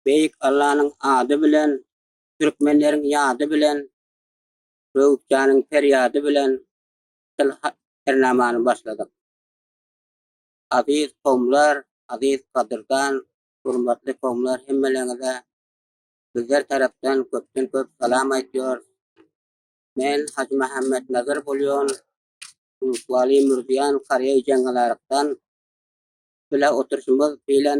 Beýik Allanyň ady bilen, türkmenleriň ýady bilen, Söwütjanyň perýady bilen şol hernamany başladyk. Aziz kowumlar, aziz gadyrdan, gurmatly kowumlar hemmeleriňize bizler tarapdan köpden köp salam aýtýarys. Men Hajy Mähemmet Nazar bolýan Ulus Wali Mürdiýan Karýaý Jeňňalarykdan bile oturşymyz bilen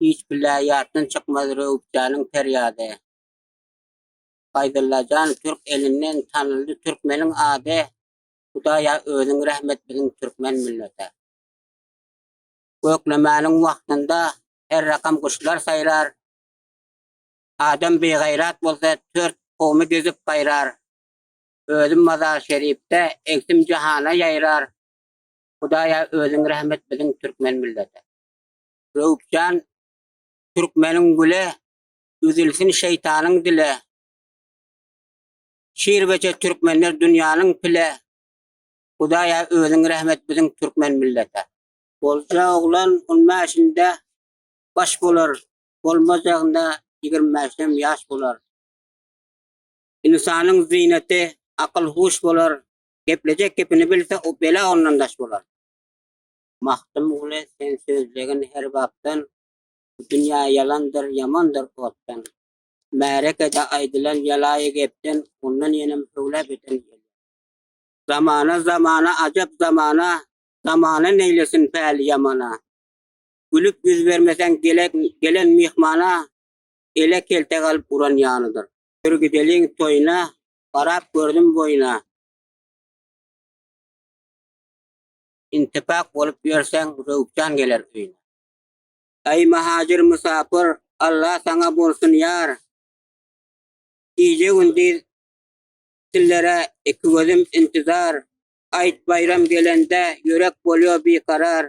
Hiç bile ýatdan çykmaz Rewüpjanyň perýady. Baýdulla jan türk elinden tanyldy türkmeniň ady. Hudaýa özüň rehmet biziň türkmen millete. Göklemäniň wagtynda her rakam guşlar saýrar. Adam bigaýrat bolsa tört kowmy düzüp gaýrar. Özüm mazar şeripde egsim jahana ýaýrar. Hudaýa özüň rehmet biziň türkmen millete. Öwüpjan türkmeniň güle, Üzülsin şeýtanyň dile. Şir beje türkmenler dünýäniň pile, Hudaýa özüň rehmet biziň türkmen millete. Bolja oglan on bäşinde baş bolar, Bolmajagynda ýigrimi bäşdem ýaş bolar. Ynsanyň zynety akyl-huş bolar, Geplejek gepini bilse, o bela ondan daş bolar. Magtymguly sen sözlegin her bapdan, Bu dünýä ýalandyr, ýamandyr otdan. Märekede aýdylan ýalaýy gepden, Ondan ýenem höwla beden gelýär. Zamana, zamana, ajap zamana, Zamana neýlesin päli ýamana. Gülüp ýüz bermeseň gelen myhmana, Ele kelte galyp uran ýanydyr. Bir gideliň toýuna, garap gördüm boýuna. intipak bolup ýörseň Röwpjan geler öýüne. Aý Mahacyr Musapyr Alla saňa bolsun ýar. Gije gündiz sizlere iki gözüm intizar Aýt baýram gelende ýürek bolýo bi karar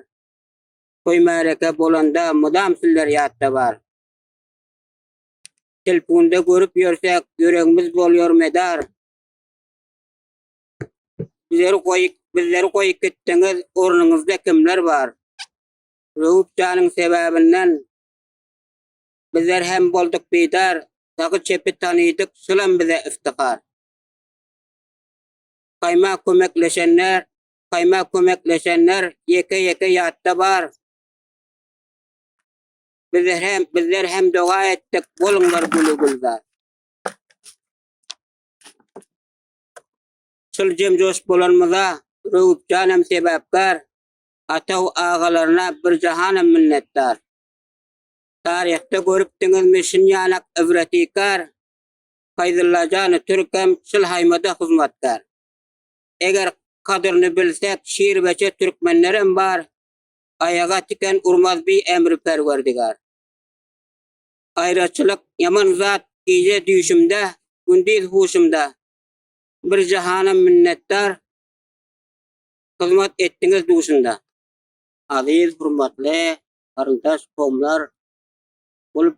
Toý märeke bolanda mydam sizler ýatda bar. Telpunda görüp ýörsek ýüregmiz bolýor medar. Bizleri goýup, bizleri goýup gitdiňiz, ornuňyzda kimler bar? Röwüpjanyň sebäbinden bizler hem bolduk bidar, sagy çepi tanydyk, şulam bize iftihar. Kaýma kömekleşenler, kaýma kömekleşenler ýeke-ýeke ýatda bar. Bizler hem bizler hem doga etdik, boluňlar güli gülzar. Şol jem-joşup bolanymyza Öwüpjan hem sebäpkär, Ataw agalaryna bir jahanam minnetdar. Taryhda görüpdiňizmi şin ýanak ibretikar, Faýzulla jany türk hem şul haýmada hyzmatkär. Eger kadyryny bilsek şir-beçe türkmenlerem bar, Aýaga tiken urmaz bi emri Perwerdigär. Aýraçylyk ýaman zat Gije düýşümde, gündiz huşumda Bir jahana minnetdar Hyzmat etdiňiz duşunda. Aziz hurmatly garyndaş komlar bul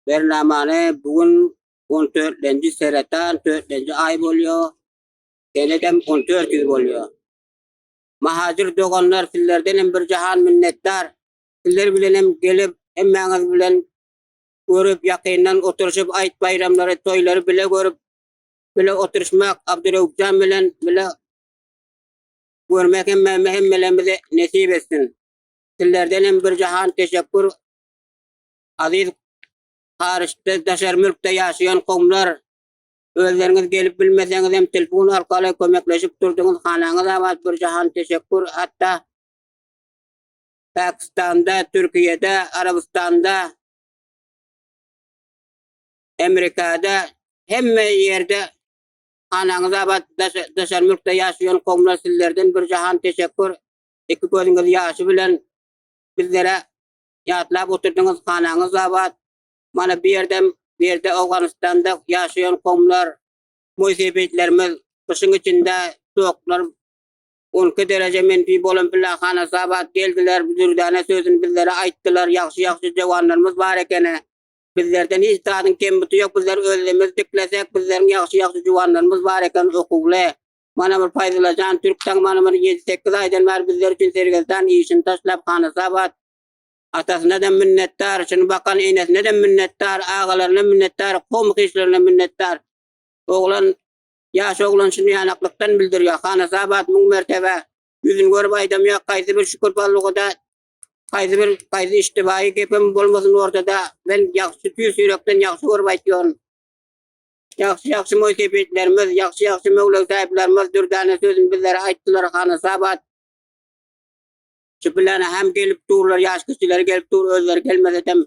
bernamany bu gün 14-nji seretan 4-nji aý bolýar. Senedem 14 ýyl bolýar. Mahajir doganlar sizlerden hem bir jahan minnetdar. Sizler bilenem gelip, hemmäňiz bilen görüp, ýakyndan oturyşyp, aýt-baýramlary, toýlary bile görüp, bile oturyşmak Abdurewupjan bilen bile görmek hemmämize, hemmelerimize nesip etsin. Sizlerdenem bir jahan teşekkür. Aziz Haryçda, daşary mülkde ýaşaýan kowumlar, özleriňiz gelip bilmeseňiz hem telefon arkaly kömekleşip durdyňyz, hanaňyz abat, bir jahan teşekkür. Hatda Pakistanda, Türkiýede, Arabystanda, Amerikada hemme ýerde anaňyz abat daşary mülkde ýaşaýan kowumlar sizlerden bir jahan teşekkur iki gözüňiz ýaşy bilen bizlere ýatlap oturdyňyz hanaňyz abat mana bu ýerdem bu ýerde Owganystanda ýaşaýan kowumlar moýsebetlerimiz gyşyň içinde soklar Onki dereje menfi bolan Pillahana Sabat geldiler, bu dürdäne sözüni bizlere aýtdylar, ýagşy-ýagşy jewanlarymyz bar ekeni. Bizlerden hiç zadyň kembuty ýok, bizler özlemiz diklesek, bizleriň ýagşy-ýagşy juwanlarymyz bar eken, okuwly. Mana bir Paýzyllajan türk tagmanymyz ýedi-sekiz aýdan bäri bizler üçin sergezdan, işini taşlap Hana Sabat. Atasyna-da minnetdar, şuny bakan enesine-de minnetdar, agalaryna minnetdar, komky-işlerine minnetdar. Oglan Ýaş oglan şuny ýanaklykdan bildirýär. Hanasabat müň mertebe ýüzüni görüp aýdamýar, haýsy bir şükür ballugada, haýsy bir, haýsy iştibaýy gepem bolmasyn ortada, men ýagşy tüýs ýürekden ýagşy görüp aýtýaryn. Ýagşy, ýagşy moýsepitlerimiz, ýagşy, ýagşy möwlegsaýyplarymyz dürdäne sözüni bizlere aýtdylar, Hanasabat. Şübülene hem gelip durlar, ýaş kişileri gelip dur, özleri gelmesem,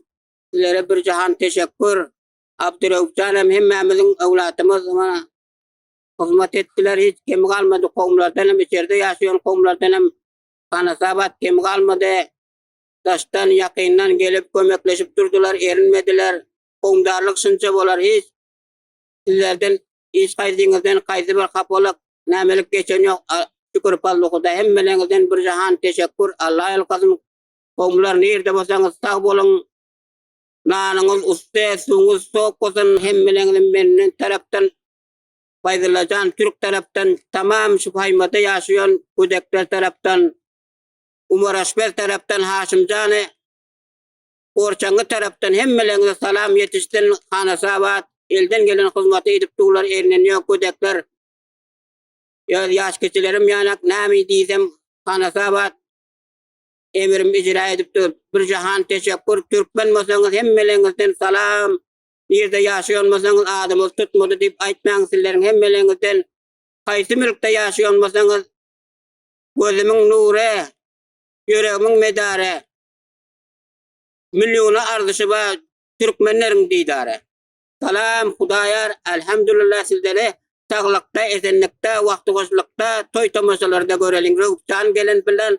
sizlere bir jahan teşekkür. Abdurewfjan hem hemmämiziň öwladymyz oňa hyzmat etdiler, hiç kemi galmady, kowumlardan hem, içerde ýaşaýan kowumlardan hem hanasabat kemi galmady. Daşdan, ýakyndan gelip kömekleşip durdular, erinmediler. Kowumdarlyk şunça bolar, hiç sizlerden, hiç haýsyňyzdan haýsy bir hapalyk, nämelik geçen ýok. Şükür Fazly Hudaý, hemmeleriňizden bir jahan teşekkur, Alla ýalkasyn. Kowumlar nirde bolsaňyz sag boluň. Nanyňyz ussy, suwuňyz sowuk bolsun, hemmäňize menden tarapdan Faýzullajan Türk tarapdan, tamam şu Paýmada ýaşaýan gödekler tarapdan, Umar Aşpez tarapdan, Haşimjany Orçangy tarapdan hemmäňize salam ýetişsin, Hanasabat elden gelen hyzmaty edip durlar, elinden ýok gödekler. Ýa ýaş keçelerim ýanak, näme diýsem, Hanasabat Emirimi ijra edip dur. Bir jahan teşekkür. Türkmen bolsaňyz hemmeleňizden salam. Nirde ýaşaýan bolsaňyz adymyz tutmady diýip aýtmaň sizleriň hemmeleňizden. Haýsy mülkde ýaşaýan bolsaňyz gözümiň nury, ýüregimiň medary. Milliona arzyşy bar türkmenleriň didary. Salam Hudaýar, elhamdülillah sizleri saglykda, esenlikde, wagty hoşlukda, toý tomaşalarda göreliň. Röwüpjan gelen bilen